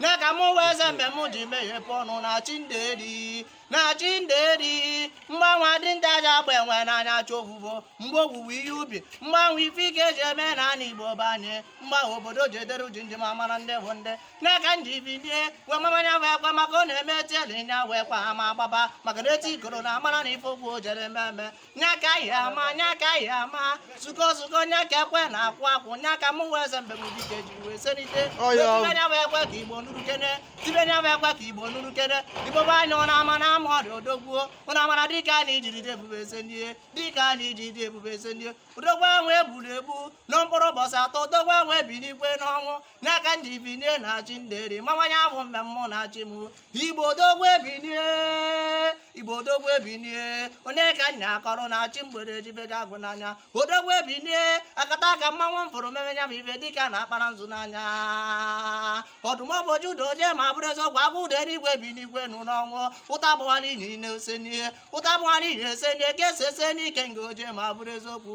nya ka mụ wee ze mgbe mụ ji meghepụ ọnụ na chi nderi na chi nderi mgbe ahụ dinta ji agba enwe n'anya chọ ovuvo mgbe owuwe ihe ubi mgbe ahụ ife ike ji eme na ana igbo be anyị mgbe ahụ obodo ji edere jii ndị ma mara ndị bụ ndị nya ka m ji binie wee mamanya wee kwa maka ọ na-eme etiele nya wee kwa ama agbaba maka na eti ikoro na amara na ife ogwu o jere ememe nya ka ya ama nya ka ya ama zuko zuko nya ka ekwe na-akụ akụ nya ka mụ wee ze mgbe m dike ji wee senite tibe nya wee kwe ka igbo nụrụ kene tibe nya wee kwe ka igbo nụrụ kene igbo be anyị ụnụ ama na ama ọdụ odogwu o ụnụ amara dịka a na-iji dịdị ebube eze ndị dịka a na-iji dịdị ebube eze ndị odogwu ahụ egburu egbu na mkpụrụ ụbọchị atọ odogwu ahụ ebinigwo n'ọnwụ nya ka m ji binie na chi nderi mawanye abụ mgbe mmụọ na-achị m igbo odogwu ebinie igbo odogwu ebinie onye ka nya akọrọ na chi mgbede ejibega agụ n'anya odogwu ebinie akataka mmanwụ fụrụ mmeme nya bụ ife dịka na akpara nzu n'anya ọdụm ebo Juda oje ma bụrụ eziokwu agụ dị n'eluigwe ebinigwo nụ n'ọnwụ ụta bụghara inyi na-esenie ụta bụghara inyi esenie ka esi ese n'ike nga oje ma bụrụ eziokwu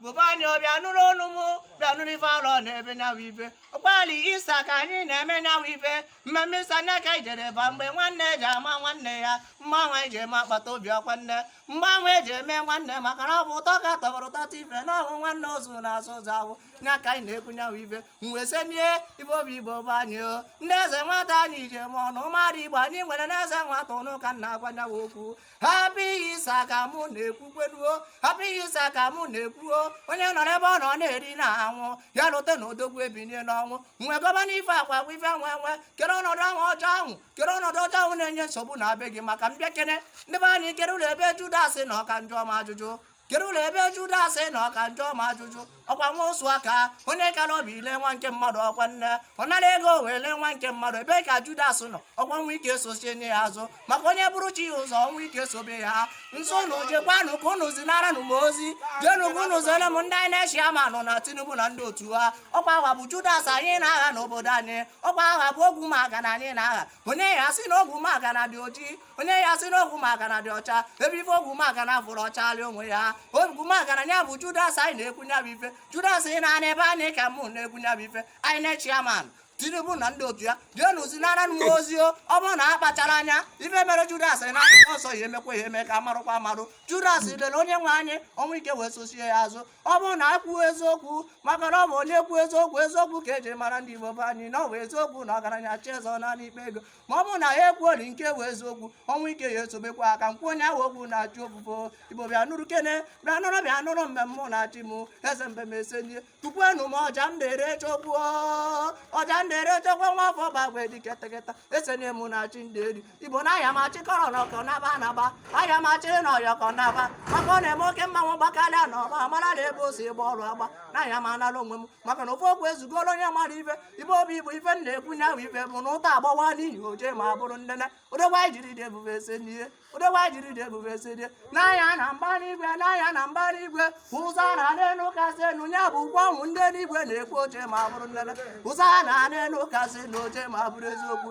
igbo be anyị bịa nụrụ ọnụ m bịa nụrụ ife arọ na-eme nya bụ ife abalị Easter ka anyị na-eme nya bụ ife mmemme Easter nya ka ijere ba mgbe nwanne ji ama nwanne ya mgbe ahụ eji eme akpata obi ọkwa nne mgbe ahụ eji eme nwanne maka na ọ bụ ụtọ ka tọbara ụtọ ife na ọbụ nwanne ozu na-asa ozu awụ nya ka anyị na-ekwu nya bụ ife mgbe senie ife obi igbo be anyị o ndị eze nwata anyị ji ma ọnụ mmadụ igbo anyị nwere na eze nwata ụnụ ka m na-agwa nya bụ okwu happy Easter ka mụ na-ekwu kwenu o happy Easter ka mụ na-ekwu o onye nọ n'ebe ọ nọ na-eri na-aṅụ ya lota na odogwu ebinie n'ọnwụ mgbe gọvanọ ife akwa agwa ife nwe nwe kere ọnọdụ ahụ ọjọọ ahụ kere ọnọdụ ọjọọ ahụ na-enye nsogbu na be gị maka m bịa kene ndị be anyị kere ụlọ ebe Judas nọ ka m jụọ ma ajụjụ kere ụlọ ebe Judas nọ ka m jụọ ma ajụjụ ọkwa nwa ụsụ aka onye kara obi ile nwa nke mmadụ ọkwa nne ọ nara ego wee lee nwa nke mmadụ ebe ka Judas nọ ọkwa ọnwụ ike sochie nye ya azụ maka onye buru chi ya ụzọ ọnwụ ike sobe ya nso na jekwanụ ka unu zinara nụ m ozi jenu ka unu zere m ndị anyị na chairman na Tinubu na ndị otu ha ọkwa agha bụ Judas anyị na-agha n'obodo anyị ọkwa agha bụ ogwu maka na anyị na-agha onye ya sị na ọ bụ maka na dị ojii onye ya sị na ọ bụ maka na dị ọcha ebe ife ọ bụ maka na fụrụ ọcha rie onwe ya ọ bụ maka na ya bụ judas anyị na-ekwu ya bụ ife judas ị na-ana ebe anyị ka mụ na-ekwu ya bụ ife anyị na chairman tinubu na ndị otu ya jenu zinara m wa ozi o ọ bụrụ na a kpachara anya ife mere judas na akwụkwọ nsọ ya emekwa ya eme ka marụkwa amarụ judas lere onye nwe anyị ọnwụ ike wee sosie ya azụ ọ bụrụ na anyị kwuo eziokwu maka na ọ bụ onye kwuo eziokwu eziokwu ka eji mara ndị Igbo be anyị na ọ bụ eziokwu na ọgaranya chezọ naanị ikpe ego ma ọ bụrụ na ya ekwuori nke bụ eziokwu ọnwụ ike ya esobekwa aka mkpu onye ahụ okwu na-achụ ofufe Igbo bịa nụrụ kene bịa nụrụ bịa nụrụ mmemme na-achị m eze mbem esenye tupuenu m ọja m na-ere chokwu ọja m na-ere chokwu nwa afọ gbagbe dike teketa esenye m na-achị ndị eri Igbo na aya m achịkọrọ n'ọkọ naba anaba aya m achịrị n'ọyọkọ naba maka ọ na-eme oke mmanwụ gbakarịa na ọba amara na ebe o si gba ọrụ agba na aya m anara onwe m maka na ofu okwu ezugoro onye mara ife ibe obi Igbo ife na-ekwu nya bụ ife bụ na ụta agbawa n'ihi oje ma bụrụ nnene odogwu anyị jiri dị ebube ese n'ihe odogwu anyị jiri dị ebube ese n'ihe n'ahịa na mbara igwe n'ahịa na mbara igwe ụzọ na n'elu kasị enu ya bụ ụgwọ ọnwụ ndị n'igwe na-ekwu oche ma bụrụ nnene ụzọ na n'elu kasị na oche ma bụrụ eziokwu